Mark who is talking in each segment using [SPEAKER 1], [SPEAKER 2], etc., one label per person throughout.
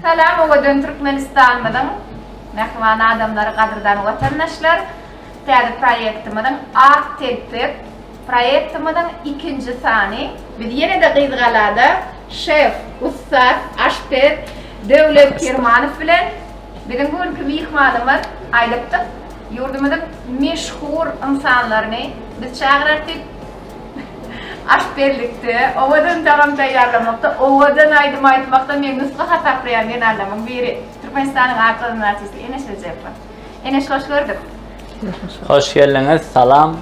[SPEAKER 1] Salam owadan Türkmenistanymyzyň mähriban adamlary gadyrdan watandaşlar täze proýektimiziň Ak telpek proýektimiziň ikinji sany biz ýene-de Gyzgalada şef ussat aşpez Döwlet Kirmanow bilen biziň bu günki myhmanymyz aýdypdyk ýurdumyzyň meşhur ynsanlaryny biz çagyrarys diýip Aş berlikde, owadan tagam taýýarlamakda, owadan aýdym aýtmakda meni nusga hasaplaýan zenanlarymyň biri, Türkmenistanyň akyldar artisti Eneş Rejepowa. Eneş, hoş gördük!
[SPEAKER 2] Hoş geldiňiz, salam.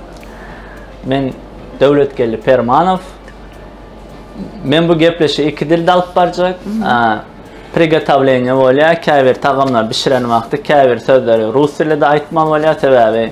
[SPEAKER 2] Men Döwletgeldi Permanow. Men bu gepleşigi iki dilde alyp barjak. Prigotowleniýe bolýar, käbir tagamlary bişiren wagty käbir sözleri rus dilide aýtmaly bolýar, sebäbi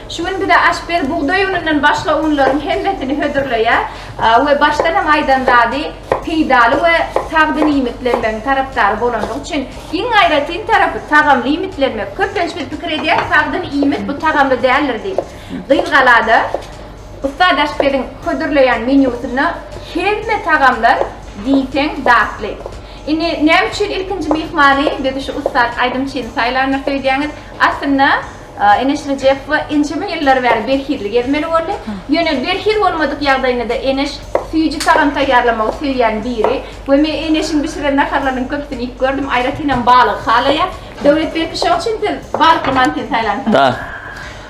[SPEAKER 1] Şu gün bize Aşber bugdaý unundan başga unlaryň hemmesini hödürleýär we başdan hem aýdan zady peýdaly we sagdyn iýmitlenmegiň tarapdary bolandygy üçin iň aýratyn tarapy tagamly iýmitlenmek. Köplenç biz pikir edýäris sagdyn iýmit bu tagamly däldir diýip. Gyzgalada ussat aşpeziň hödürleýän menýusynda hemme tagamlar diýseň datly. Indi näme üçin ilkinji myhmany biz şu ussat aýdymçyny saýlandyr söýdýäňiz? Aslynda Eneşli Jeffa ençeme ýyllar bäri berhizli gezmeli boldy. Ýöne berhiz bolmadyk ýagdaýynda-da Eneş süýji tagam taýýarlamagy söýýän biri we men Eneşiň bişiren naharlarynyň köpüsini iýip gördüm, aýratynam balygy halaýar. Döwletberdi, şoň üçin siz balykly mantini saýlanypsyňyz. Da.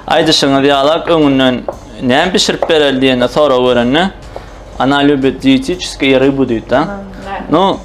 [SPEAKER 2] Aýdyşyňyz ýalak, öňünden näme bişirip bereli diýende, sorag berende, Ona lýubit diýetiçeskiýe rybu diýdi-de. No,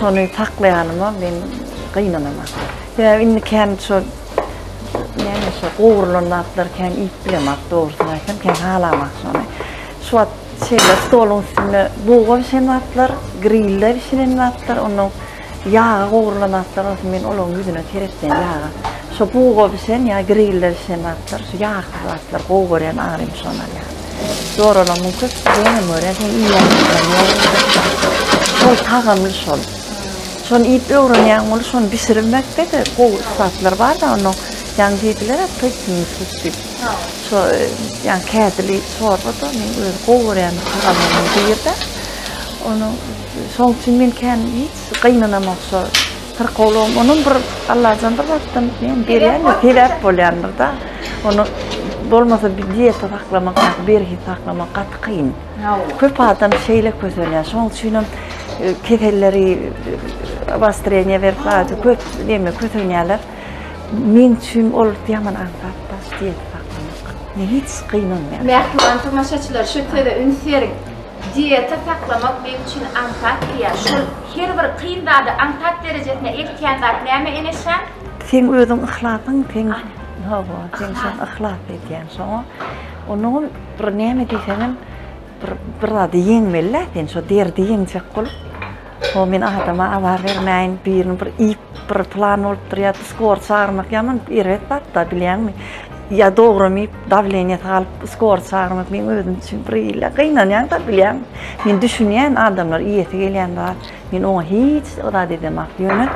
[SPEAKER 3] Şony saklaýanyma men gynanaman. Sebäbi indi kän şo näme şo gowrulan zatlary kän iýip bilemak, dogrusyny aýtsam, kän halamak şony. Şu wagt şeýle stoluň üstünde buga bişen zatlar, grillde bişiren zatlar, onnoň ýaga gowrulan zatlar bolsa men olaryň ýüzüne seretmeýän ýaga. Şo buga bişen ýa grillde bişen zatlar, şu ýagsyz zatlar gowy görýän agyrym şonary ýa. Zoralaryň köpüsi hem görýän sen iýýän. Şol tagamly şol. Şony iýip öwrenýän bolup, şony bişirmekde de gowy ussatlar bar-da, onuň ýaňy diýdiler-ä pyýpyňy tut diýip. Şo ýaňy kädili çorba-da men özi gowy görýän tagamynyň biri-de. Onuň şoň üçin men kän hiç gynanamok şo Syrkawlygyň onam bir Allajan bir zatdan diýen berýändir, sebäp bolýandyr-da. Ony bolmasa bir dieta saklamak ýa-da berhiz saklamak gaty kyn. Köp adam şeýle kösenýär. Şonuň üçin hem e, keselleri obostreniýe berip aýdy köp näme kösenýärler. Meň üçin ol ýaman aňsat da dieta saklamak. Ne hiç kyn olmaýar. Mähriban tomaşaçylar
[SPEAKER 1] şu söze üns beriň. Dieta saklamak men üçin aňsat diýýär. Şol her bir kyn zady aňsat derejesine eltýän zat näme Enesjan? Seň özüň
[SPEAKER 3] yhlasyň seň hawa seň şoň yhlas edýäň şoňa onuňam bir näme diýseňem bir bir zady ýeňmelidä sen şo derdi ýeňjek bolup. Ho men adama azar bermäýin birini bir iýip bir plan bolup durýa skor çagyrmak ýaman erbet zatda bilýäňmi ýa dogrum iýip dawleniýasy galyp skor çagyrmak men özüm üçin bir ýyla gynanýanda bilýäň men düşünýän adamlar iýesi gelýän zat men oňa hiç zat edemok ýöne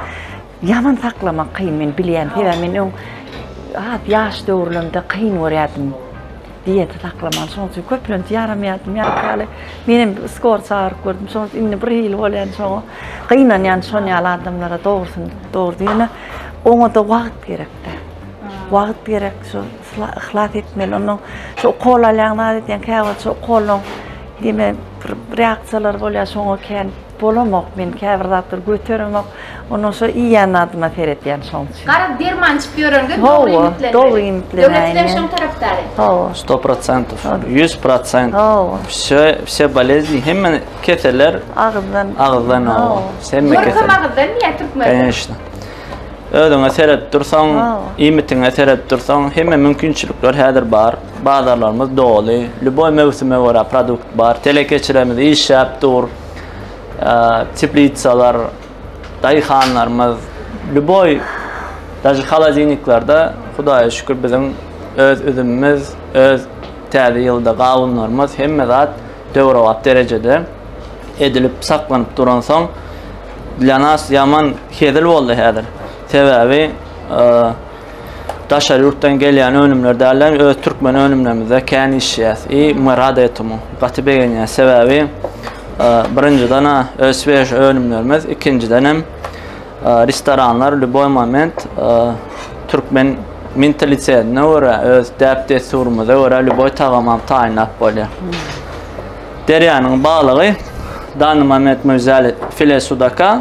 [SPEAKER 3] Ýaman saklamak kyn men bilýän sebäbi men öň has ýaş döwürlerimde kyn görýärdim diýeti saklamagy şoň üçin köplenç ýaramýardym ýaşy ýaly menem skor çagyryp gördüm şoň üçin indi bir hili bolýan şoňa gynanýan şon ýaly adamlara dogrusyny dogry ýöne oňada wagt gerekde wagt gerek şu yhlas etmeli ondan şu ukol alýan zat edýän käwagt şu ukoldan deme bir reaksiýalar bolýar şoňa kän Bolamok men käbir zatlary göteremok. Ondan soň iýýän zadyma seretýän şoň üçin. Garaz derman içip
[SPEAKER 1] ýörende dogry
[SPEAKER 3] iýmitlenmeli.
[SPEAKER 1] Dogry iýmitlenmeli.
[SPEAKER 2] Döwlet bilen şoň tarapdary. Hawa. 100%. 100%. Hawa. Wse wse bolezni hemme keseller agyzdan. Agyzdan hawa. Hemme keseller. Ýörüsem
[SPEAKER 1] agyzdan diýýä türkmen.
[SPEAKER 2] Kanyşda. Özüňe seredip dursaň, iýmitiňe seredip dursaň hemme mümkinçilikler häzir bar. Bazarlarymyz doly. Lýuboý möwsüme görä produkt bar. Telekeçilerimiz işläp dur. teplitsalar, daýhanlarymyz, lüboý daşy halodilniklerde Hudaýa şükür biziň öz üzümimiz, öz täze ýylda gawunlarymyz hemme zat döwrebap derejede edilip saklanyp duransoň dla nas ýaman hezil boldy häzir. Sebäbi Daşary ýurtdan gelýän önümler däl-de, öz türkmen önümlerimizde kän işleýäs. I my rad etemu. Gaty begenýär. Sebäbi birinjiden-ä öz svež önümlerimiz, ikinjiden hem restoranlar lýuboý moment türkmen mentalitetine görä, öz däp-dessurymyza görä lýuboý tagamy hem taýynlap bolýar. Derýanyň balygy, dany moment möjzäli file sudaka,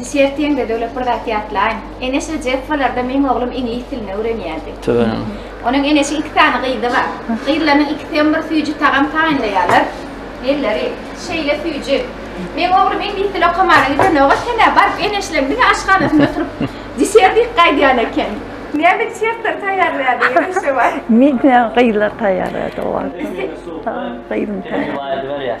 [SPEAKER 2] Düşertiň-de,
[SPEAKER 1] Döwlet bir zat ýatlaýyn. Ene şo Jeffalarda meň oglum iňlis dilini öwrenýärdi. Tüweleme. Onuň
[SPEAKER 2] eneşiň iki
[SPEAKER 1] sany gyzy bar. Gyzlarynyň ikisi hem bir süýji tagam taýynlaýarlar. Elleri şeýle süýji. Meň oglum iňlis dili okamana gidenogaz senä baryp eneşleň diňe aşhanasynda oturyp desertik gaýdýan eken. Näme desertler taýýarlaýardy ene şo wagt? Meniňä gyzlar
[SPEAKER 3] taýýarlaýardy o wagt. Gyzym taýýarlaýardy. Ene baýyrdy berýär.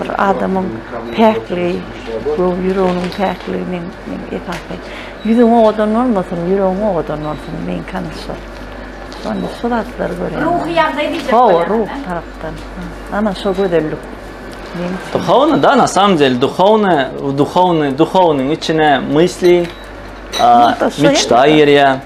[SPEAKER 3] bir adamyň päkligi, göwün ýüreginiň päkligi men esasy. Ýüzüň owadan bolmasyn, ýüregiň owadan bolsun, meňki hany şol. Onda şu zatlary görýän. Ruhy ýagdaý diýjek
[SPEAKER 1] bolýan. Hawa, ruh tarapdan.
[SPEAKER 3] Ana şo gözellik.
[SPEAKER 2] Duhovny da na samom deli duhovny, duhovny, duhovnyň içine mysli, mçta ýerýä.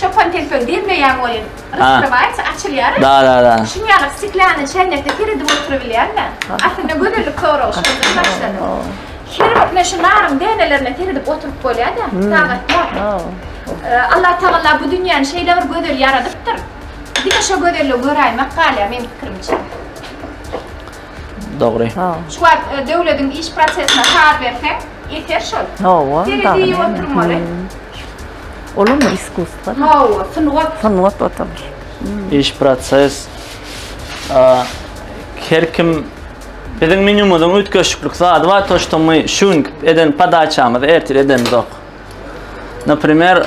[SPEAKER 1] Çopan telpegi diýilmeýän oýun. Raskrywaýç açylýar. Da da da. Şuň ýaly
[SPEAKER 2] stiklýanyň
[SPEAKER 1] çäýnekde seredip oturybilýärmi? Aslynda gözellik soragy şondan başlady. Her bir ine şu naryň dänelerine seredip oturyp bolýada, sagat ýok. Allah Tagala bu dünýäni şeýle bir gözel ýaradypdyr. Diňe şo gözelligi göräýmek galýar meň pikirimçe.
[SPEAKER 2] Dogry.
[SPEAKER 1] Şu wagt
[SPEAKER 3] döwlediň iş prosesine saz berseň, eser şol. Hawa, dagy neme. oturmaly. Olam iskusstwa. Hawa, sungat. Sungat otalyr. Iş
[SPEAKER 2] proses. Her kim biziň menýumyzyň üýtgeşiklik zady bar, to şto my şu günki eden podaçamyzy ertir edenizok. Naprimer,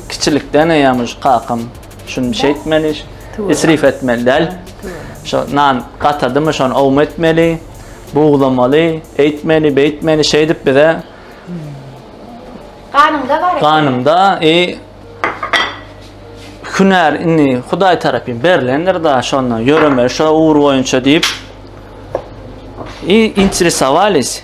[SPEAKER 2] Kiçilikden eýäm şu kakam şuny şeýtmeli, isrif etmeli däl. Şu nan gatadymy şony owma etmeli, buglamaly, eýtmeli, beýtmeli şeýdip bize
[SPEAKER 1] Ganymda bar. Ganymda e
[SPEAKER 2] hünär indi Hudaý tarapyn berlendir da şonda ýöreme şo ugur boýunça diýip. E interesowaliýs.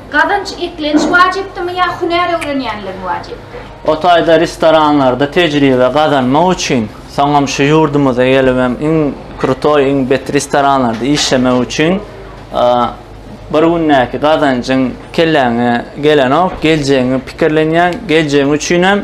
[SPEAKER 1] Gazanç eklenç wajypdymy ýa hünär öwrenýänligiň wajypdy? O taýda
[SPEAKER 2] restoranlarda tejribe gazanmak üçin, soňam şu ýurdumyza gelibem iň krutoý, iň bet restoranlarda işlemek üçin bir gündäki gazanjyň kelläňe gelenok, geljegiňi pikirlenýäň, geljegiň üçinem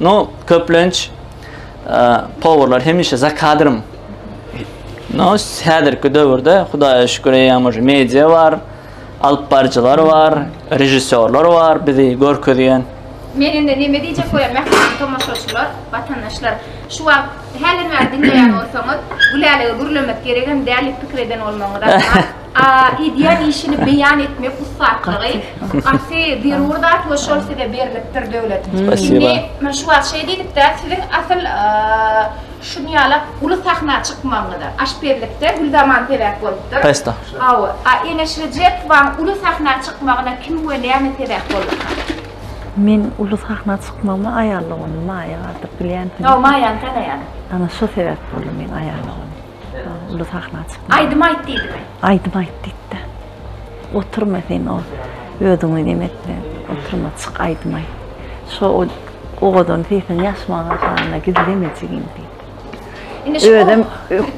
[SPEAKER 2] No, köplenç powurlar hemişe za kadrym. No, häzirki döwürde Hudaýa şükür eýýäm media bar, alyp baryjylar bar, režissýorlar bar bizi görkezýän. Men indi näme
[SPEAKER 1] diýjek bolýan mähriban tomaşaçylar, watandaşlar. Şu wagt häzir meni diňleýän bolsaňyz, Gülälege gürlemek geregem däl diýip pikir eden bolmagyňyz ahmal. A. Edýän işini beýan etmek ussatlygy gaty zerur zat we şol size berlipdir Döwlet. Indi men şu wagt şeý diýdikdä, siziň asyl şu ýala uly sahna çykmagyňyza, aşpezlikde Gülzaman sebäp bolupdyr. Hawa.
[SPEAKER 2] A. Eneş
[SPEAKER 1] Rejepowaň uly sahna çykmagyna kim we näme sebäp bolupdyr? Meň
[SPEAKER 3] uly sahna çykmagyma aýallyk ony Maýa bardyr. Bilýänsiňizmi? Hawa, Maýany tanaýan.
[SPEAKER 1] Ana şo sebäp
[SPEAKER 3] boldy meň aýallyk ony. Uly sahna çykma. Aýdym aýt diýdimi?
[SPEAKER 1] Aýdym aýt diýdi.
[SPEAKER 3] Oturma sen o özüňi neme etme. Oturma çyk aýdym aýt. Şo o owadan sesiň ýaşmaga galanda gizleme jigim diýdi. Özüm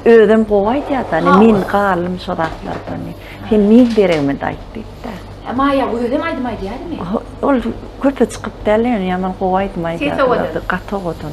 [SPEAKER 3] özüm gowy aýdýarda, men galym şo zatlardan. Sen men deregime aýt diýdi. Maýa özem aýdym
[SPEAKER 1] aýdýarmy? Ol köpe
[SPEAKER 3] çykyp däl, ýöne ýaman gowy aýdym aýdýar. Gaty owadan.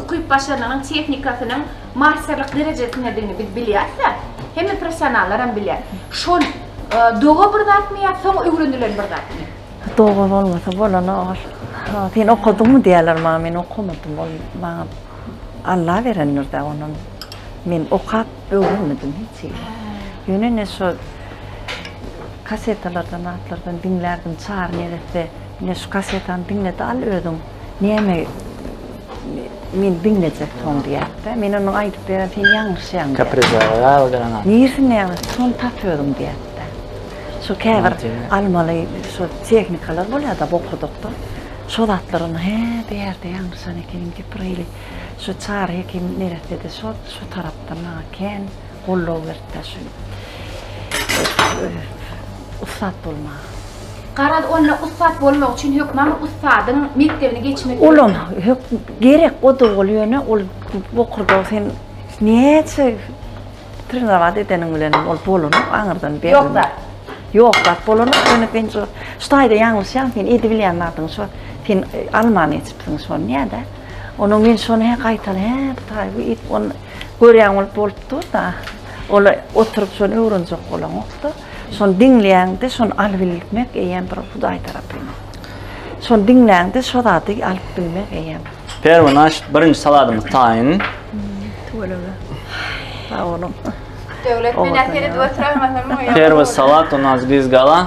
[SPEAKER 1] ukyp-başarnygynyň, tehnikasynyň masterlik derejesindedigini biz bilýäris-ä, hemme professionallaram bilýär. Şol doga bir zatmy ýa soň öwrenilen bir zatmy? Doga bolmasa
[SPEAKER 3] bolanok ol. Sen okadyňmy diýerler maňa, men okamadym. Ol maňa Alla berendir-dä onam. Men okap öwrenmedim hiç hili. Ýöne ine şo kasetalardan zatlardan diňlärdim, Çary neresse, ine şu kasetany diňle-de al özüň. Näme meni diňlejek soň diýýär-de. Men onuň aýdyp beren sen ýalňyşýaň. Kaprizlere galdyraňa.
[SPEAKER 2] Nirsine ýalňyş, şony
[SPEAKER 3] tap özüň diýýär-de. Şu käbir almaly şu tehnikalar bolýar-da, bokurdakda. Şo zatlar onuň hä bu ýerde ýalňyşan ekeniň, gepir eýli. Şu Çary hekim neressede şo, şo tarapdan maňa kän. Goldaw berip ber şeýdip öýe ussat bolmaga. Garaz
[SPEAKER 1] onda ussat bolmak üçin hökman ussadyň mekdebini geçmek. Olam hök
[SPEAKER 3] gerek o dogul ýöne ol bokurda sen näçe trenowaty edeniň bilen ol bolany aňyrdan ber. Ýok da.
[SPEAKER 1] Ýok da
[SPEAKER 3] bolany ýöne sen şu şu taýda ýalňyşýaň sen edibilýän zadyň şu sen alman geçipsiň şony näde? Ona men şony he gaýtal he taý bu it on görýän bolup bolup dur-da. Ol oturyp şony öwrenjek bolanokda. Şony diňleýäňde şony alyp bilmek eýýäm bir Hudaý tarapyndan. Şony diňleýäňde şo zady alyp bilmek eýýäm. Perwe naş
[SPEAKER 2] birinji saladymyz taýyn. Tüweleme.
[SPEAKER 3] Sag boluň. Döwlet
[SPEAKER 1] men ýa-da seni döwlet raýatlaryny. Perwe salat,
[SPEAKER 2] onaz biz gala.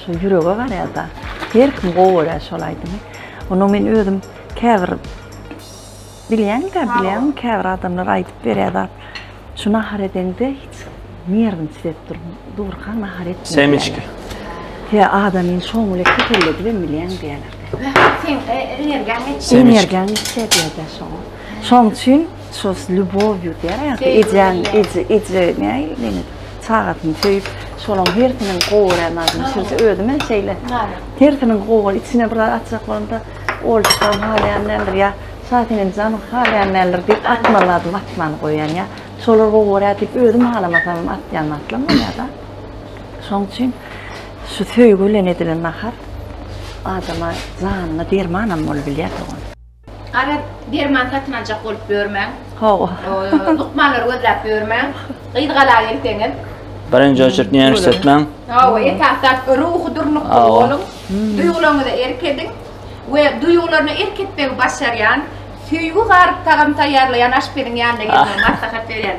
[SPEAKER 3] Şol ýürege garaýada her kim gowy görýär şol aýdymy. Ony men özüm käbir bilýäňdä bilýäň käbir adamlar aýdyp berýär zat. Şu nahar edeňde hiç nerwim titrep dur. Durkaň nahar etme. Semiçki.
[SPEAKER 2] He
[SPEAKER 3] adamyny şoň bilen keselledibem bilýäň diýerler. Energiýaň geçýär diýerler şoň. Şoň üçin şo s lýubowýu diýýär ýa Söýgi ejeň bilen. eje eje näý diýmek çagasyny söýüp şolaň hersiniň gowy gören zadyny şeýle özüm hem şeýle Näme? hersiniň gowy gören içine bir zat atjak bolanda olçukam halaýan däldir ýa şa senem janyň halaýan däldir diýip atmaly zadymy atman goýýan ýa şolar gowy görýär diýip özüm halamasam atýan zatlam bolýada şoň üçin şu söýgi bilen edilen nahar adama janyna dermanam bolup bilýär dogan Gara
[SPEAKER 1] derman satyn aljak bolup ýörmäň. Hawa.
[SPEAKER 3] Lukmanlary
[SPEAKER 1] gözläp ýörmäň. Gyz gala gelseňiz. Birinji oçert
[SPEAKER 2] näme işletmäň? Hawa, esasdan
[SPEAKER 1] ruhy durnukly boluň. Duýgularyňyza erk ediň we duýgularyna erk etmegi başarýan, söýgi garyp tagam taýýarlaýan aşpeziň ýanyna gelmegi maslahat berýän.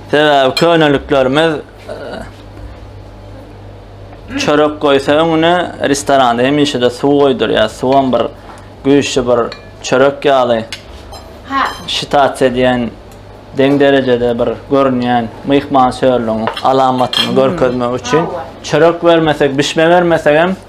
[SPEAKER 2] Sebäbi köneliklerimiz çörek goýsa öňüne restoranda hemişe-de suw goýdurýar. Suwam bir güýçli bir çörek ýaly. Ha.
[SPEAKER 1] Şitat
[SPEAKER 2] edýän deň derejede bir görünýän myhman sörlügiň alamatyny görkezmek üçin çörek bermesek, bişme bermesek hem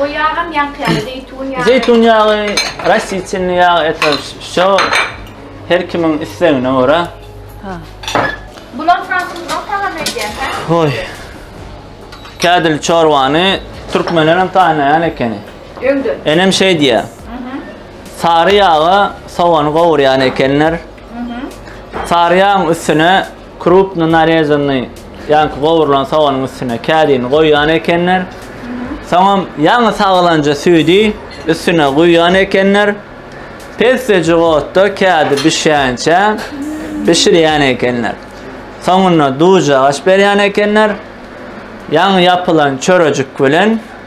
[SPEAKER 2] O ýagam ýaňky
[SPEAKER 1] ýaly, zeýtun ýagy. Zeýtun ýagy,
[SPEAKER 2] rastительni ýag, eto, şo her kimiň islegine görä. Ha.
[SPEAKER 1] Bular fransuzdan salam edýär, hä? Hoý.
[SPEAKER 2] Kädil çorbany türkmenler hem taýynlaýan ekeni. Öňde. Enem
[SPEAKER 1] şeý
[SPEAKER 2] diýýär. Mhm. Sary ýaga sogany gowurýan ekenler. Mhm. Sary ýagyň üstüne Krupno narezanny, ýaňky gowrulan soganyň üstüne kädini goýýan ekenler. Soňam ýaňy sagylanja süýdi üstüne guýýan ekenler. Pessejik otda kädi bişýänçä bişirýän ekenler. Soňunda duzjagaç berýän ekenler. Ýaňy ýapylan çörejik bilen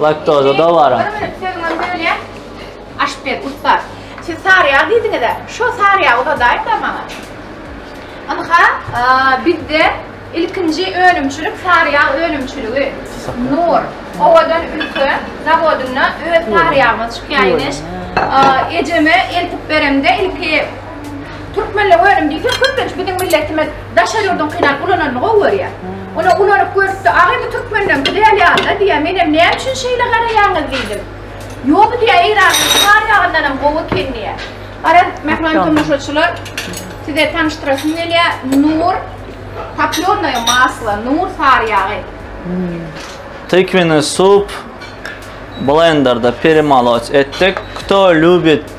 [SPEAKER 2] Laktoza dowara. Bir minut sözüňizi bölýän.
[SPEAKER 1] Aşpez ussat. Siz sary ýag diýdiňiz-ä. Şo sary ýagy uzadaýyň-da maňa. Ynha, bizde ilkinji önümçilik sary ýag önümçiligi. Nur, owadan ülke zawodynda öz sary ýagymyz çykýar imiş. Ejeme eltip beremde ilki Türkmenle önüm diýsek köplenç biziň milletimiz daşary ýurduň kynap ulananyny gowy görýär. Ony ulanyp görüpdi, aga indi türkmenleň güzel ýaly-da diýýär. Menem näme üçin şeýle garaýaňyz diýdim. Ýok diýýär Eýranyň çygar ýagyndanam gowy eken diýýär. Garaz, mähriban tomaşaçylar, size tanyşdyrasym gelýär, Nur toplёrnaýa masla, Nur sary ýagy. Tykwyny
[SPEAKER 2] sup, blenderde peremalot etdik. Kto lýubit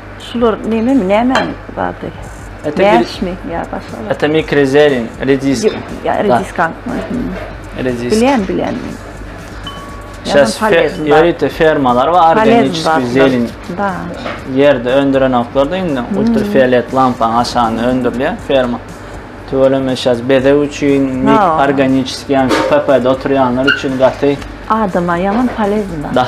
[SPEAKER 3] Şular nememi, nämäniň zady? Mäşmi, ýa başga zat? Etemi krezeliň,
[SPEAKER 2] rediska. Ýa rediskan.
[SPEAKER 3] Rediska.
[SPEAKER 2] Bilýän, bilýän. Şas ýörite fermalar bar, organiki zelin. Bar. Ýerde öndüren oklary indi ultrafiolet lampaň aşagyna öndürilýär ferma. Tüweleme şas bezeg üçin, mik organiki ýa PP-de oturýanlar üçin gaty. Adama ýaman
[SPEAKER 3] polezna. Da.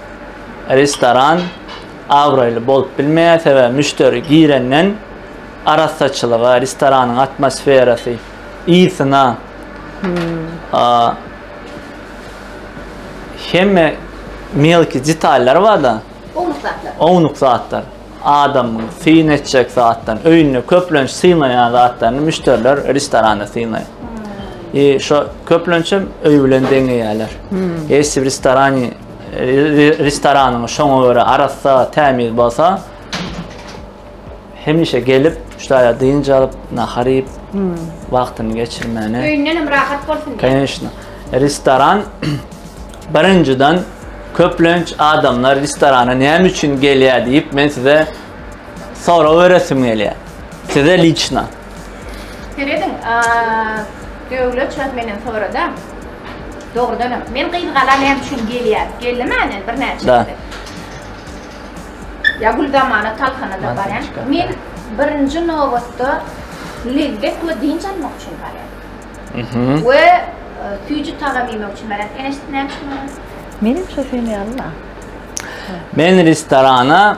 [SPEAKER 2] restoran abraýly bolup bilmeýär, sebäbi müşderi girenden arassaçylyga, restoranyň atmosferasy, ysyna hemme melki detallar bar-da. Ownuk zatlar. Ownuk zatlar. Adamyň syn etjek zatlaryny, öýünde köplenç synlaýan zatlaryny müşderiler restoranda synlaýar. I şo köplenç hem öý bilen deňeýärler. Essi bir restorany Restoranyň şoňa görä arassa, tämiz bolsa hemişe gelip, şaýa dynç alyp, nahar iýip, wagtyny geçirmäne. Öýünden hem rahat
[SPEAKER 1] bolsun diýip. Kanyşna.
[SPEAKER 2] Restoran birinjiden köplenç adamlar restorana näme üçin gelýär diýip, men size sorag beresim gelýär. Size liçna. Serediň,
[SPEAKER 1] Döwlet şuwagt menden sorada, dogrudanam, men gyzgala näme üçin gelýän? Geldi mänen birnäçe gezek. Ýa Güldamana, Talhana-da barýan. Men birinji nobatda lezzet we dynç almak üçin barýan. We süýji tagam iýmek üçin barýan. Ene, siz näme üçin barýansyz? Menem şo seni
[SPEAKER 3] ýaly-la.
[SPEAKER 2] Men restorana.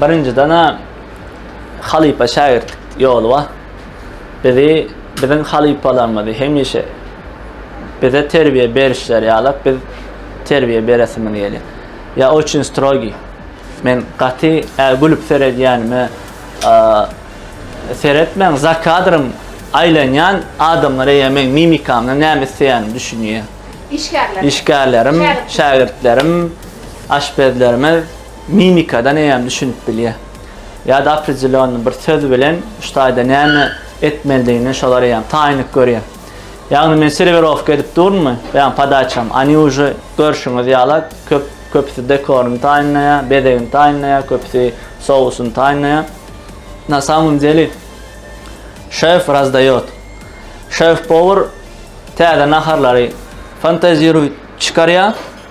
[SPEAKER 2] Birinjiden-ä halypa-şägirtlik ýoly bar. Bizi, biziň halypalarymyzy hemişe bize terbiýe berişleri ýalap biz terbiýe beresimiz gelýär. Ýa oçün strogi. Men gaty ä gülüp seredýänime seretmäň, za kadrym aýlanýan adamlar eýýäm meň mimikamdan näme isleýänimi düşünýär. Işgärler. Işgärlerim, şägirtlerim, aşpezlerimiz. Mimikadan eýýäm düşünip bilýär. Ýa-da opredelýonnyý bir söz bilen şu taýda näme etmelidigini şolar eýýäm taýynlyk görýär. Ýagny men serwirowka edip durmmy? Beýan podaçam, oni uje görşüňiz ýala köp köpüsi dekoryny taýynlaýar, bezegini taýynlaýar, köpüsi sousyny taýynlaýar. Na samym deli şef razdaýot. Şef-powar täze naharlary fantaziruýt çykarýar.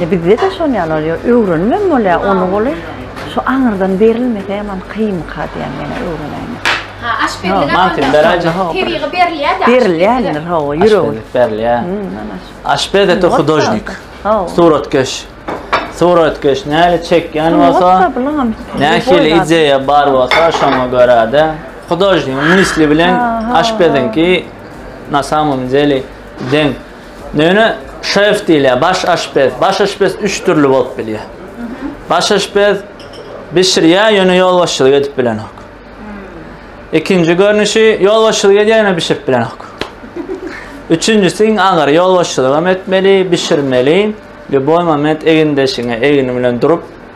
[SPEAKER 3] Indi bizde-de şon ýaly bolýar, öwrenibem bolýar ony goly. Şu aňyrdan berilmese ýaman kynka diýýän ýene öwrenäýme. Ha, aşpezlige
[SPEAKER 1] Mantýa beraýjak. Howp.
[SPEAKER 2] Tebigy
[SPEAKER 1] berilýär-de. Berilýändir, hawa,
[SPEAKER 3] ýüregi. Aşpezlik berilýär.
[SPEAKER 2] Aşpez ete hudožnik. Hawa. Suratkeş. Suratkeş näle çekýän bolsa, nähili ideýa bar bolsa şoňa görä-de, hudožnigiň misli bilen aşpeziňki na samom deli deň. Ýöne şef diýilýär, baş aşpez. Baş aşpez üç dürli bolup bilýär. Baş aşpez bişirýär, ýöne ýolbaşçylyk edip bilenok. Ikinji görnüşi ýolbaşçylyk edýär, ýöne bişirip bilenok. Üçünjisi iň agyry ýolbaşçylyk hem etmeli, bişirmeli. Lýuboý moment egindeşiňe egni bilen durup,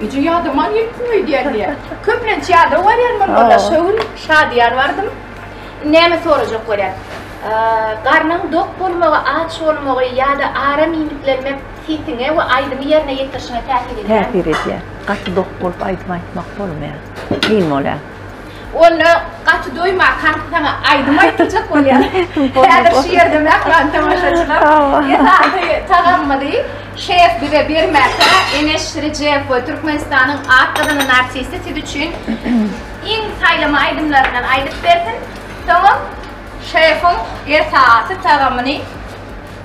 [SPEAKER 1] Güýji ýadyma ýetmiň öýdýän diýýär. Köplenç ýada barýan men bollar. Şo gün Şadyýar bardym. Näme sorajak bolýar. Garnyň dok bolmagy, aç bolmagy ýa-da aram iýmitlenmek sesiňe we aýdymy ýerine ýetirişiňe täsir edýärmi? Täsir edýär. Gaty
[SPEAKER 3] dok bolup aýdym aýtmak bolmaýar. Kyn bolýar. Onda
[SPEAKER 1] gaty doýmakan saňa aýdym aýdyljak bolýar. Häzir şu ýerde mähriban tomaşaçylar esasy tagamyny şef bize bermäkä Eneş Rejeýew we Türkmenistanyň at gazanan artisti siz üçin iň saýlama aýdymlaryndan aýdyp bersin. Soňam şefim esasy tagamyny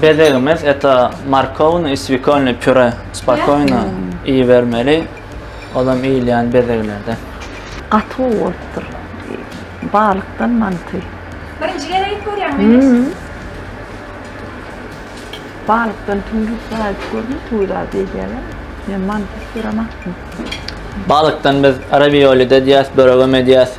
[SPEAKER 2] Bezegimiz eta markowny i swikolny püre spokoýno iýibermeli, olam iýilýän bezeglerden. Gaty gowy
[SPEAKER 3] bolupdyr. Balykdan manty. Birinji gezek
[SPEAKER 1] edip görýäňmi Enes?
[SPEAKER 3] Balykdan tüýlüp dagy edip gördüm, tüwi dagy diýilýärler. Men mantysyz göremokdym.
[SPEAKER 2] Balykdan biz rawiolide diýýäs, böregem edýäs.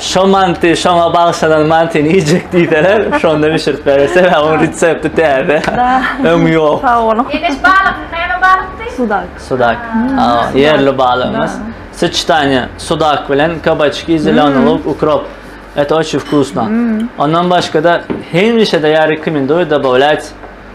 [SPEAKER 2] Şo manty şoňa bagşylar mantini iýjek diýseler, şonda bişirip berer. Sebäbi onuň resepti täze. Öňi ýok. Sag boluň. Eneş
[SPEAKER 3] balyk, näme
[SPEAKER 1] balykdy? Sudak. Sudak.
[SPEAKER 2] Ýerli balygymyz. Soçitaniýe, sudak bilen kabaçki, zeleni luk, ukrop. Eto oçi wkusno. Ondan başga-da hemişe-de ýa rekomenduýa dobawlýat.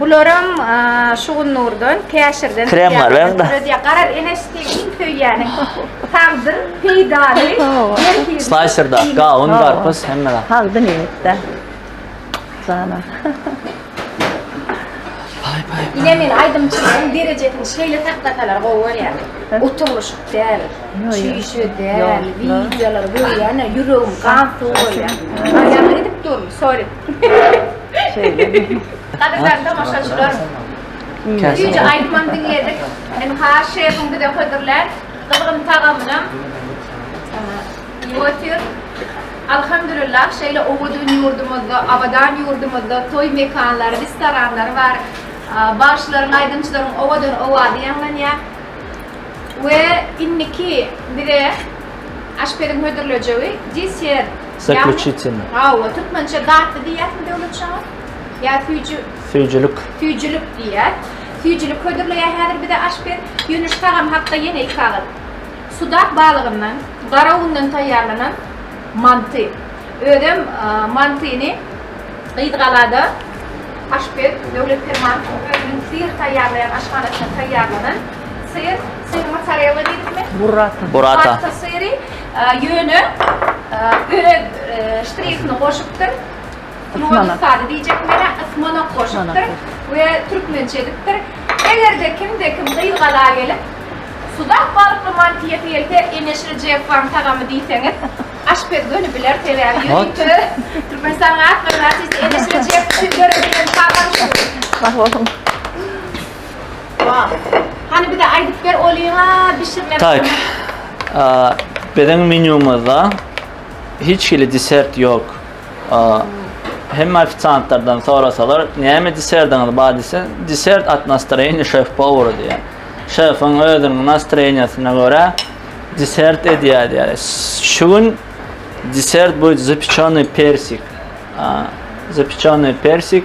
[SPEAKER 1] Bularam şugunnurdan käşirden krem bar beňde.
[SPEAKER 2] Gara ene
[SPEAKER 1] stekin söýýäni. Sagdyr, peýdaly. Slicer
[SPEAKER 2] da, gawun, garpyz hemme da. Sagdyn ýetdi.
[SPEAKER 3] Sana. Pay
[SPEAKER 1] pay. Ine men aýdymçylaryň derejesini şeýle saklasalar gowy bolýar. Oturlyşyk däl. Çüýşe däl. Wideolar görýän ýüregim gan sowaýar. Aýagyny edip durun, sorry. Gadyrdan tomaşaçylar, süýji aýdymam diňledik. Ynha, şefiň bize hödürlän gyzgyn tagamynam iýip otyrys. Alhamdulillah, şeýle owadan ýurdumyzda, abadan ýurdumyzda toý mekanlary, restoranlary bar. Bagşylaryň, aýdymçylaryň owadan owazy ýaňlanýar. We indiki bize. Aşpeziň hödürlejegi desert. Zakljuçitin.
[SPEAKER 2] Hawa, türkmençe
[SPEAKER 1] datly diýýäsmi Döwlet şaha? Ýa süýji? Süýjülik.
[SPEAKER 2] Süýjülik
[SPEAKER 1] diýýär. Süýjülik hödürleýär häzir bize aşpez. Ýöneş tagam hakda ýene iki agyz. Sudak balygyndan, gara undan taýýarlanan manty. Özem mantyny Gyzgalada aşpez Döwlet Permanow özüniň syr taýýarlaýan aşhanasyna taýýarlanan syr Syr mozzarella diýdikmi? Burrata. Burrata. Burrata
[SPEAKER 3] syry.
[SPEAKER 1] Ýöne börek ştrihini goşupdyr. Ysmanak. Sady diýjek mene ysmanak goşupdyr we türkmençe edipdir. Eger-de kimde kim gyz gala gelip Sudak balykly manty ýese gelse Eneşir Jepaň tagamy diýseňiz aşpez göni biler sebäbi ýörite Türkmenistan atly artist Eneşir Jep üçin ýörite tagamdyr. Sag boluň.
[SPEAKER 3] Wah.
[SPEAKER 1] Hany bize aýdyp ber olyňa
[SPEAKER 2] bişirmek. Tak. Biziň menýumyzda hiç hili desert ýok. Hemme ofisiantlardan sorasalar, näme desertiňiz bar diýse, desert at nastroýeniýa şef powera diýýär. Şefiň özüniň nastroýeniýasyna görä desert edýär diýýär. Şu gün desert bu zapečony persik. Zapečony persik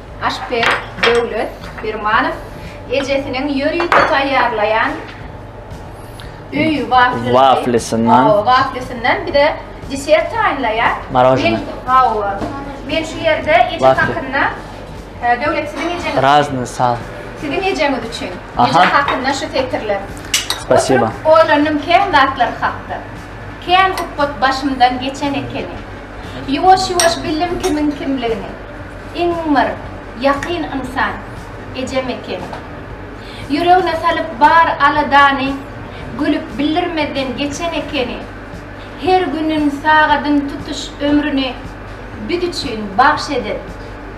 [SPEAKER 1] Aşpez Döwlet Permanow ejesiniň ýörite taýýarlaýan öý waflisi, waflisyndan, hawa, waflisyndan bir-de desert taýynlaýar. Maražna.
[SPEAKER 2] Hawa.
[SPEAKER 1] Men şu ýerde eje hakynda e, Döwlet siziň ejeňiz. Razny sal.
[SPEAKER 2] Siziň ejeňiz
[SPEAKER 1] üçin. Eje hakynda şu setirler. Spasiba.
[SPEAKER 2] Oýlandym kän
[SPEAKER 1] zatlar hakda. Kän ukyp başymdan geçen ekeni. Ýuwaş-ýuwaş bildim kimiň kimligini. Iň bir ýakyn ynsan ejem ekeni. Ýüregine salyp bar aladany, gülüp bildirmezden geçen ekeni. Her günün, sagadyn tutuş ömrüni biz üçin bagş eden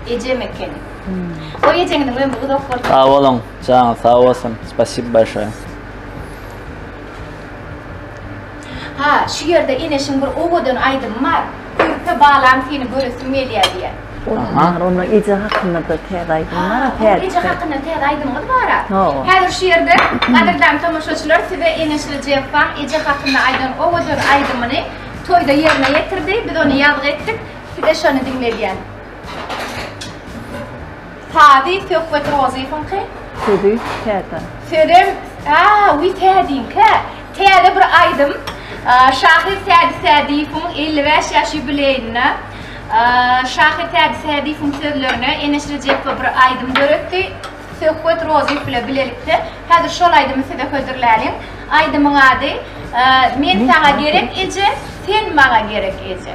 [SPEAKER 1] ejem ekeni. Goý ejeňiziň ömri uzak bolsun. Sag boluň, janyňyz
[SPEAKER 2] sag bolsun, spasibo bolşoe.
[SPEAKER 1] Ha, şu ýerde Eneşiň bir owadan aýdymy bar, Körpe balam seni göresim gelýär diýýär. Olam bar, onda
[SPEAKER 3] eje hakynda-da täze aýdym bar-a, täze. Ha, onda eje hakynda täze
[SPEAKER 1] aýdymyňyz bar-a. Hawa. Häzir şu ýerde, gadyrdan tomaşaçylar, size Eneşli Jepbaň eje hakynda aýdan owadan aýdymyny toýda ýerine ýetirdi, biz ony ýazgy etdik, size şony diňledýän. Sazy Söhbet Rozyýewiňki? Sözi täze.
[SPEAKER 3] Sözem
[SPEAKER 1] a wi täziňkä. Täze bir aýdym. Şahyr Tädi Sädiýewiň 55 ýaş ýubileýine şahyr Tädi Sädiýewiň sözlerine Eneş Rejepow bir aýdym döretdi. Söhbet Rozyýew bilen bilelikde. Häzir şol aýdymy size hödürläliň. Aýdymyň ady Men saňa gerek eje, sen maňa gerek eje.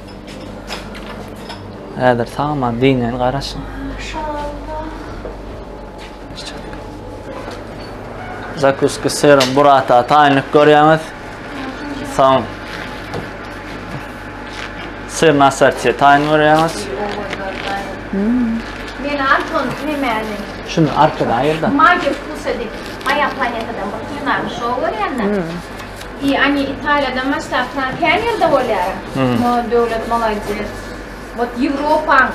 [SPEAKER 2] Häzir sagaman diňen garaşyň. Zakuski syrym burata taýynlyk görýäňiz. Soň syr nasartiýe taýyn görýäňiz.
[SPEAKER 1] Men Anton Nemäni. Şunu arkadan
[SPEAKER 2] aýyrda. Magiýa wkusa
[SPEAKER 1] diýip, Maýa planetadan bir kinoda şou görýän-de. I ani italiýada maştaplar kä nirde bolýara mo döwlet molades wot ýewropaň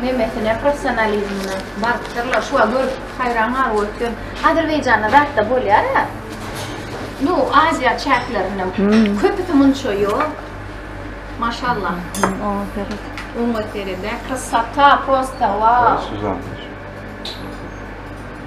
[SPEAKER 1] nemesine professionalizmine barypdyrlar şuwa görüp haýran galyp otyryn azerbaýjanda zatda bolýara nu aziýa çäklerinde köpüsi munça ýok maşallah oňa seret oňa seredä krasota prosta wau.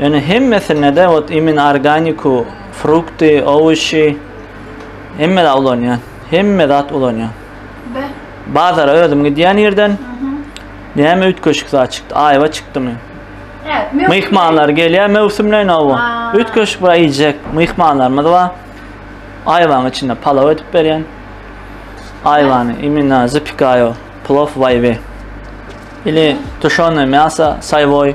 [SPEAKER 2] Ýöne hemmesinde-de ot imin organiku, frukty, owuşy hemmede ulanýan. Hemme zat ulanýan. Bazara özüm gidýän ýerden näme üýtgeşik zat çykdy? Aýwa çykdymy?
[SPEAKER 1] Myhmanlar gelýär
[SPEAKER 2] möwsümleýin aýwa. Üýtgeşik bir iýjek myhmanlarymyz bar. Aýwanyň içinde palaw edip berýän. Aýwany imina zapikaýo, plov waýwe. Ili tuşony mäsa, saýwoý.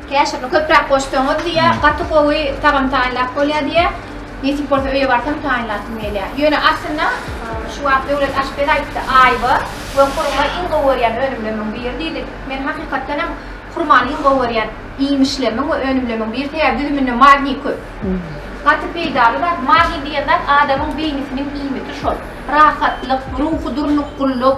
[SPEAKER 2] Käşirini köpräk
[SPEAKER 1] goşsaňyz diýýär, gaty gowy tagam taýynlap bolýar diýýär. Nesip bolsa öýe barsam taýynlasym gelýär. Ýöne aslynda şu wagt Döwlet aşpez aýtdy, aýwa we hurma iň gowy görýän önümlemiň biri diýdi. Men hakykatdan hem hurmany iň gowy görýän iýmişlemiň we önümlemiň biri sebäbi düzüminde magniý köp. Gaty peýdaly zat. Magniý diýen zat adamyň beýnisiniň iýmiti şol. Rahatlyk, ruhy durnukgylyk.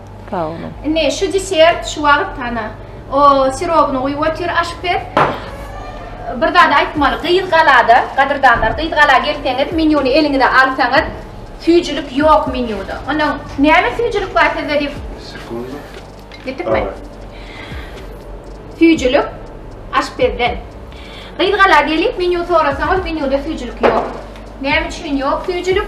[SPEAKER 2] Sag boluň.
[SPEAKER 3] Indi şu desert
[SPEAKER 1] şu wagt ana o sirobyny guýup otyr aşpez. Bir zady aýtmaly, gyz galada, gadyrdanlar, gyz gala gelseňiz, menýuny eliňize alsaňyz, süýjülik ýok menýuda. Ondan näme süýjülik bar sizde diýip. Sekundę. Ýetdikmi? Süýjülik aşpezden. Gyz gala gelip menýu sorasaňyz, menýuda süýjülik ýok. Näme üçin ýok süýjülik?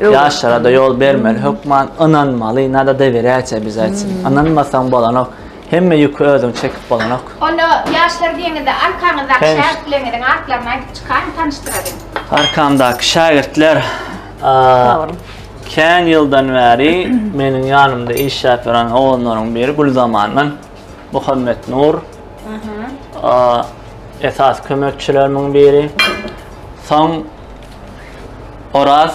[SPEAKER 2] Ýaşlara da ýol bermeli, hökman ynanmaly, nada dewerýäçe biz aýtsyn. Hmm. Ynanmasaň bolanok. Hemme ýüki özüň çekip bolanok. Onda ýaşlar
[SPEAKER 1] diýeňizde arkaňyzdaky şägirtleriňiziň atlaryny aýdyp çykaryň, tanyşdyralyň. Arkamdaky
[SPEAKER 2] şägirtler kän ýyldan bäri meniň ýanymda işläp ýören ogunlaryň biri Gülzamandan Muhammet Nur. Esas kömekçilerimiň biri. Soň Oraz.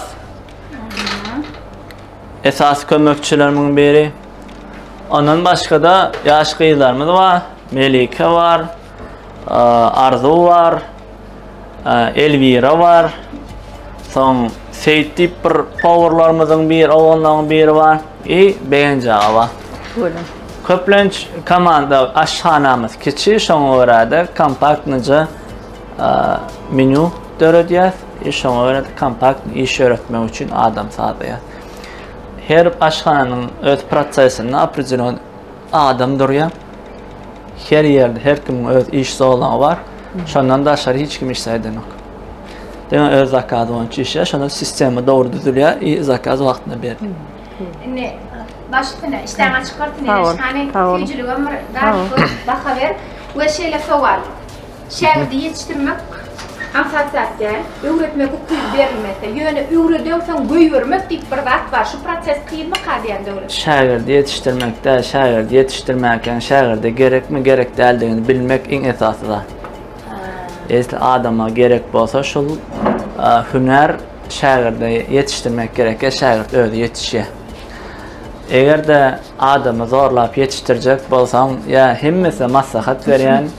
[SPEAKER 2] Esasy kömekçilerimiň biri. Ondan başga-da ýaş gyzlarymyz bar. Melike bar. Arzu bar. Elvira bar. Soň Seýit diýip bir powurlarymyzyň bir ogunlaryň biri bar. I Begenja bar. Gördüm. Köplenç komanda aşhanamyz kiçi, şoňa görä-de kompaktnyja Menü döredýäs. Şoňa görä kompakt iş ýöretmek üçin adam saýlaýar. Her aşhananyň öz prosesinde opredelýon adam durýar. Her ýerde her kimiň öz iş zolagy bar. Şondan daşary hiç kim işleýänok. Diňe öz zakazy boýunça işleýär. Şonda sistema dogry düzülýär i zakaz wagtynda berilýär. Indi başysyna işden açyk
[SPEAKER 1] bolsun. Hani süýjüligem bir baha ber we şeýle sowal. Şägirdi ýetişdirmek aňsat zat däl. Öwretmek ukyby berilmese, ýöne öwredensoň goýbermek diýip bir zat bar. Şu proses kynmyka diýýän Döwlet? Şägirdi ýetişdirmek
[SPEAKER 2] däl, şägirdi ýetişdirmänkäň şägirde gerekmi, gerek däldigini bilmek iň esasy zat. Esli adama gerek bolsa şul hünär şägirde ýetişdirmek gerek ýa şägirt özi ýetişýä. Eger-de adamy zorlap ýetişdirjek bolsaň ýa hemmesine maslahat berýän.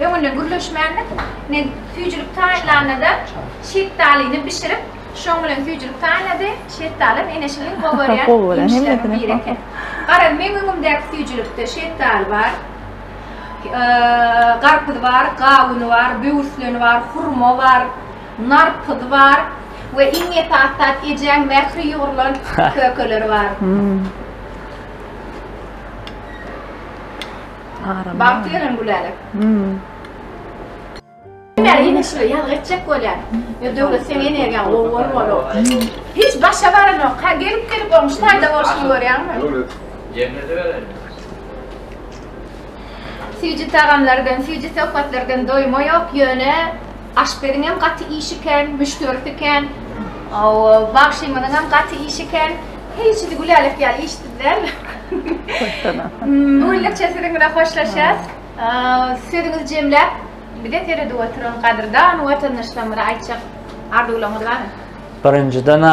[SPEAKER 1] Öňüne gürleşmändik. Men süýjülik taýynlanda-da, şetdalyny bişirip, şoň bilen süýjülik taýynlady. Şetdalam Eneşigiň gowy görýän iýmişleriniň biri eken. Gara, meň öňümdäki süýjülikde şetdaly bar, garpyz bar, gawun bar, böwürslen bar, hurma bar, narpyz bar we iň esasy zat ejäň mähri ýugrulan kökeleri bar. Aram. Bagt beren gülälek. Hmm. Näme ýene şular ýazgy etjek bolýar. Ýa döwlet sen energiýa gowy bolup. Hiç başa baranok. Ha gelip gelip oň şu taýda bolşuny görýäňmi? Döwlet.
[SPEAKER 4] Jemlede
[SPEAKER 1] beren. Süýji tagamlardan, süýji söhbetlerden doýma ýok, ýöne aşpeziň hem gaty işi kän, müşderisi kän. Bagşymyzyň hem gaty işi kän. Heý şidi gülälek ýaly işsiz däl. Güllikçe siziň bilen hoşlaşýas. Sözüňizi jemläp bize seredip oturan gadyrdan watandaşlarymyza aýtjak arzuwlaryňyz barmy? Birinjiden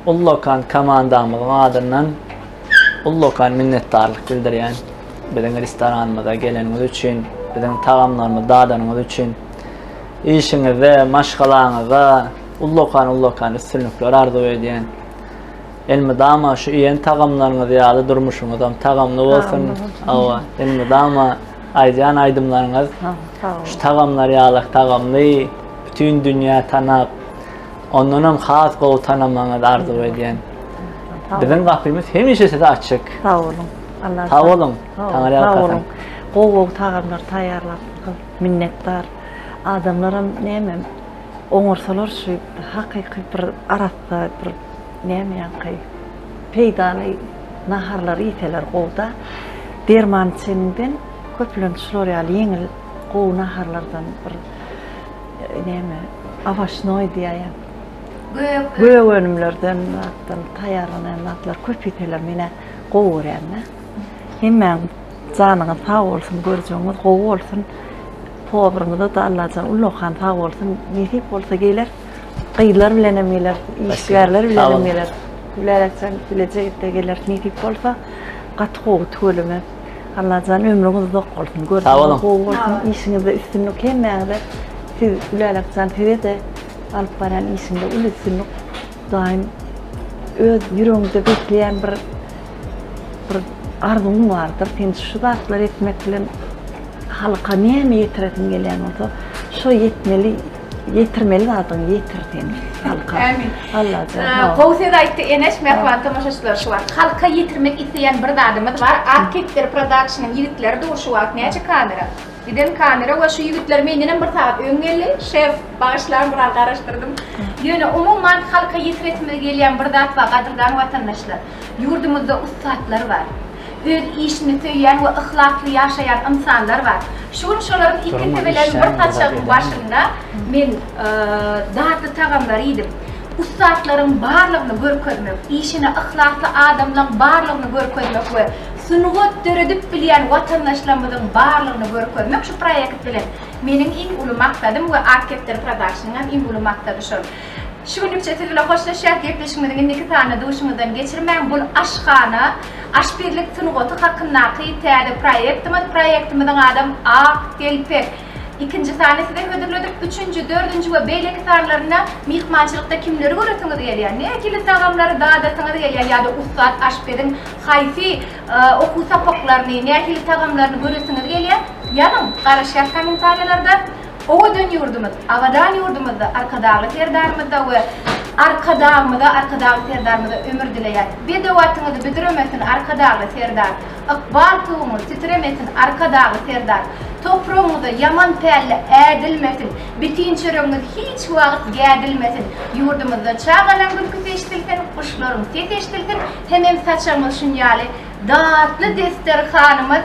[SPEAKER 2] ullakan komandamyzyň adyndan ullakan minnetdarlyk bildirýän. Biziň restoranymyza geleniňiz üçin, biziň tagamlarymyzy dadanyňyz üçin. Işiňizde, maşgalaňyzda ullakan ullakan üstünlikler arzuw edýän. Elmydama şu iýen tagamlaryňyz ýaly durmuşyňyzam tagamly bolsun. Hawa, elmydama aýdýan aýdymlaryňyz şu tagamlar ýaly tagamly bütin dünýä tanap, ondanam has gowy tanamagyňyzy arzuw edýän. Biziň gapymyz hemişe size açyk. Sag boluň.
[SPEAKER 3] Allah sag boluň.
[SPEAKER 2] Taňry ýalkasyn.
[SPEAKER 3] Gowy gowy tagamlar taýýarlap minnetdar. Adamlaram näme oňarsalar şu hakyky bir arap Daýy bir näme ýaňky peýdaly naharlary iýseler gowuda. Derman içeniňden köplenç şular ýaly ýeňil gowy naharlardan bir näme awaşnoý diýäýem. Gök. Gök önümlerden zatdan taýýarlanaýan zatlar köp iýseler menä gowy görýända. Hemmäň janyňyz sag bolsun görjegiňiz gowy bolsun. Tobrumyza da Allajan Ullahan sag bolsun nesip bolsa geler. Gyzlar bilen hem geler, işgärler bilen hem geler. Bilereksen bilejegitte geler nesip bolsa gaty gowy tüweleme. Allajan ömrüňiz uzak bolsun. Görüşmek gowy bolsun. Işiňizde üstünlik hemmäňize. Siz Bilerekjan size de alyp baran işinde uly üstünlik. Daim öz ýüregiňizde bekleýän bir bir arzuwyň bardyr. Sen şu zatlar etmek bilen halka näme ýetiresiň gelýän bolsa, şo ýetmeli Ýetirmeli zadyňy ýetir sen halka. Ämin. Allajan.
[SPEAKER 1] Gowy
[SPEAKER 3] söz aýtdy
[SPEAKER 1] Eneş mähriban tomaşaçylar şu wagt. Halka ýetirmek isleýän bir zadymyz bar. Ak kepder production-yň ýigitleri dur şu wagt näçe kamera? Giden kamera we şu ýigitler mendenem bir sagat öň geldi. Şef bagyşlaň biraz garaşdyrdym. Ýöne umuman halka ýetiresimiz gelýän bir zat bar gadyrdan watandaşlar. Ýurdumyzda ussatlar bar. öz işini söýýän we yhlasly ýaşaýan ynsanlar bar. Şu gün şolaryň iki tebeleriň bir saçagyň başynda men datly tagamlary iýdim. Ussatlaryň barlygyny görkezmek, işine yhlasly adamlaň barlygyny görkezmek we sungat döredip bilýän watandaşlarymyzyň barlygyny görkezmek şu proýekt bilen meniň iň uly maksadym we Architector Productionyňam iň uly maksady şol. Şu günlükçe siz bilen hoşlaşýas, gepleşigimiziň indiki sanyny duşuňyzdan geçirmäň, bul aşhana, aşpezlik sungaty hakyndaky täze proýektimiz, proýektimiziň adam Ak telpek. Ikinji sany size hödürledik, üçünji, dördünji we beýleki sanlarynda myhmançylykda kimleri göresiňiz gelýär, nähili tagamlary dadasyňyz gelýär ýa-da ussat aşpeziň haýsy okuw sapaklaryny, nähili tagamlaryny göresiňiz gelýär, ýazyň, garaşýas kommentariýalarda. Owadan ýurdumyz, abadan ýurdumyzda Arkadagly Serdarymyza we Arkadagymyza, Arkadagly Serdarymyza ömür dileýän. Bedewatyňyzy büdremesin, Arkadagly Serdar! Ykbal tuguňyz titremesin, Arkadagly Serdar! Topragyňyza ýaman pälle ädilmesin, bitin çöregiňiz hiç wagt gädilmesin! Ýurdumyzda çagalaryň gülküsi eşidilsin, guşlaryň sesi eşidilsin, hemem saçagyňyz şunýaly datly desterhanymyz